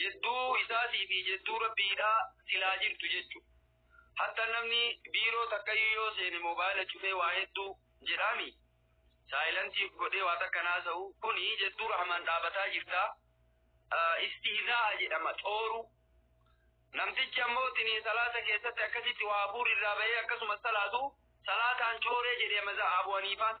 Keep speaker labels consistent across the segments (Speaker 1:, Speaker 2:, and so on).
Speaker 1: Jidduu isaatii fi jidduu Rabbiidhaa silaa jirtu jechu. Hatta namni biiroo takkayyuu yoo seene moobaayila cufee waa hedduu jedhaami. Saayilantii godhee waa takka naasa'u kuni jidduu rahmaan dhaabataa jirta. Istihzaa'a jedhama xooruu. Namtichi ammoo tini salaata keessatti akkasitti waa hafuurri irraa bahee akkasumas salaatu salaataan cooree jedhe maza Abu Haniifaan.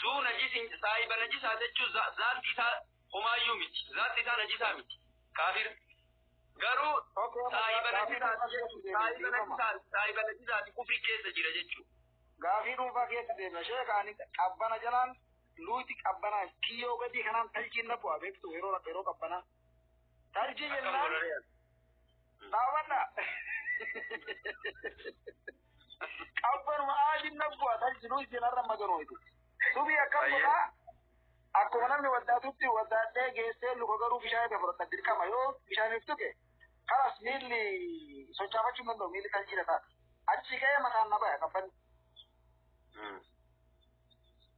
Speaker 1: Zuu najisin saahiba najisaa jechuun zaatti isaa homaayyuu miti. Zaatti isaa najisaa miti. Kaafir. Garuu saahiba najisaati jechuun saahiba najisaati saahiba najisaati kufri keessa jira jechuun. Gaafii dhuunfaa
Speaker 2: keessa deema. Sheeka ani qabbana jalaan luuti qabbanaa kiyyoo gadii kanaan taljiin na bu'aa beektu yeroo yeroo qabbanaa. Tarjii jennaan daawwadha. Qabbanuma aadiin nabbu'a tarjiduu isin har'a maganuu itti. Subii akkam godhaa? Akkuma namni waddaatutti waddaadhee geessee luka garuu bishaan irra fudhata dirqama yoo bishaaniif tuqe karas miilli sochaafachuu hin danda'u miilli tarjiidha ta'a. Achi ka'ee mataan na baya qabbanni.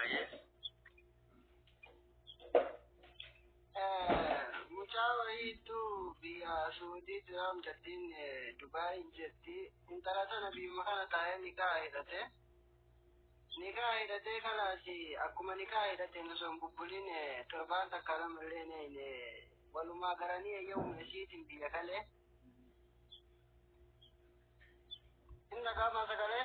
Speaker 1: Ayyee.
Speaker 2: Mucaa wayiitu biyya Suudii Tiraam jettiin Dubaay jetti. Intala sana biyyuma kana taa'ee nikaa hidhate. Nikaa hidhatee kanaas akkuma nikaa hidhateen osoo hin bubbuliin torbaan takka lama illee walumaa garanii eeyyamuma isiitiin biyya kalee. Inni dhagaamaa sagalee.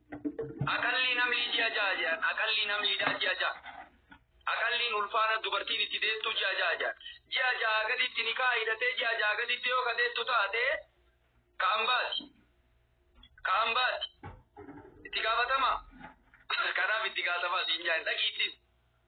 Speaker 1: Aqallii namlii ji'a ja'a jedhan aqallii namliidhaa ji'a ja'a. Aqalliin ulfaana dubartiin itti deettuu ji'a ja'a jedhan. Ji'a ja'a gaditti nikaa hidhatee ji'a ja'a gaditti yoo ka deettu taate ka ambaati. Ka ambaati. Itti gaafatama. Kanaaf itti gaafatamaa siin jaan dhaqiittis.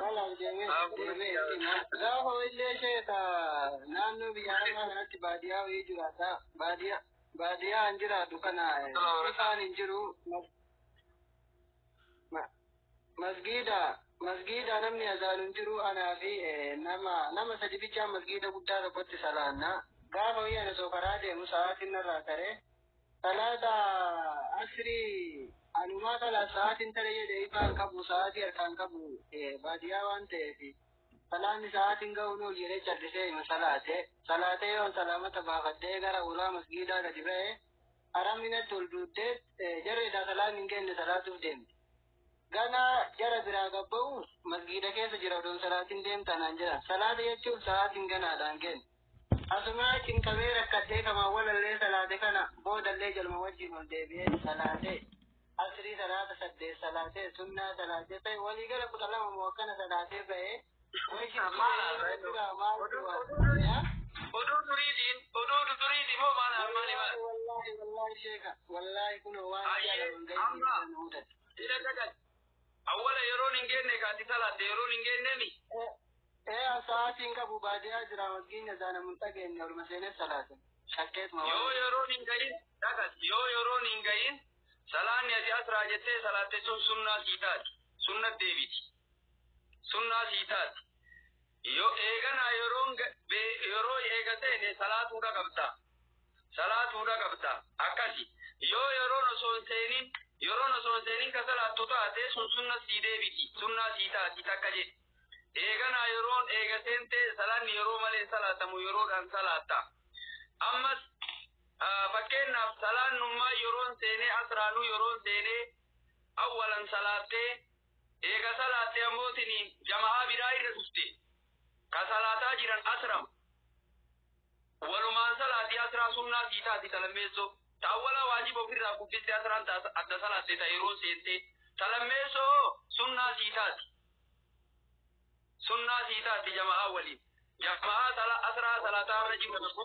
Speaker 2: Kanaaf deemee deemee gaafa illee sheeta naannoo biyya arabaa kanatti baadiyyaa wayii jiraata. Baadiyyaa baadiyyaa hin jiraatu kana ifaan hin jiru. Masgiida masgiida namni azaalu hin jiru anaa fi nama nama sadi bichaa masgiida guddaa tokkotti salaanna. Gaafa wayii ana soo karaa deemu sa'aatiin narraa taree. Salaata asrii anumaa salaat sa'aatiin tare jedhe ifaa hin qabu sa'aatii harkaa hin qabu baadiyyaa waan ta'eef salaanni sa'aatiin ga'u nuuf jedhee callisee ima salaate salaatee yoon salaamata baafadhee gara ulaa masgiidaa gadi ba'e araminatti ol duuttee jarreedhaa salaanni hin kenne salaatuuf deemte. Gana jara biraa gabba'u masgiida keessa jira odoon salaatiin deemtanaan jira salaata jechuun sa'aatiin ganaadhaan kenna. Asumaa cinqamee rakkadhee kamaan walallee salaate kana boodallee jaluma wajjiin ol deebi'ee ni salaate. Asrii salaata saddeet salaatee sunnaa salaatee ta'e walii gala kudha lama moo akkana salaatee ba'ee wayita maal duraa maal
Speaker 1: duraa Oduu duriitiin oduu duriiti moo maal maali maal? Wallaahi wallaahi sheeka
Speaker 2: wallaahi kunoo waan Ayyee, jaalatan amma. ga'ee mudate. Jira dagal.
Speaker 1: Awwala yeroon hin geenne ka ati salaatte yeroon hin geenneemi? Ee an
Speaker 2: sa'aatii hin qabu baadiyaa jira masgiidni azaanamu hin dhageenye oluma seenee salaate. Shakkeetuma Yoo waan. yeroon hin gahin
Speaker 1: dhaqas yoo yeroon hin gahin salaanni ati asraa jettee salaatte sun sunnaa sii taati. Sunna deebiti. Sunnaa sii taati. Yo eeganaa yeroon ga- be- yeroo eega seene salaatuudha qabda. Salaatuudha qabda. Akkasi. Yoo yeroon osoo hin seenin yeroon osoo hin seenin ka salaattu taate sun sunna sii deebiti. Sunnaa sii taati takka jedhe. Eeganaa yeroon eega seentee salaanni yeroo malee hin salaatamu yeroodhaan salaatta. Ammas ah, fakkeenyaaf salaannummaa yeroon seenee asraanuu yeroon seenee awwalan salaattee Eega salaatte ammoo tiniin jama'aa biraa irra dhufte. Ka salaataa jiran asram. Walumaan salaati asraa sunnaa sii taati ta lammeessoo. Ta awwalaa waajiba ofirraa kuffiste asraan ta adda salaatte ta yeroo seentee. Ta lammeessoo hoo sunnaa sii taati. Sunnaa sii taati jama'aa waliin. Jama'aa sala asraa salaataa irra jiru tokko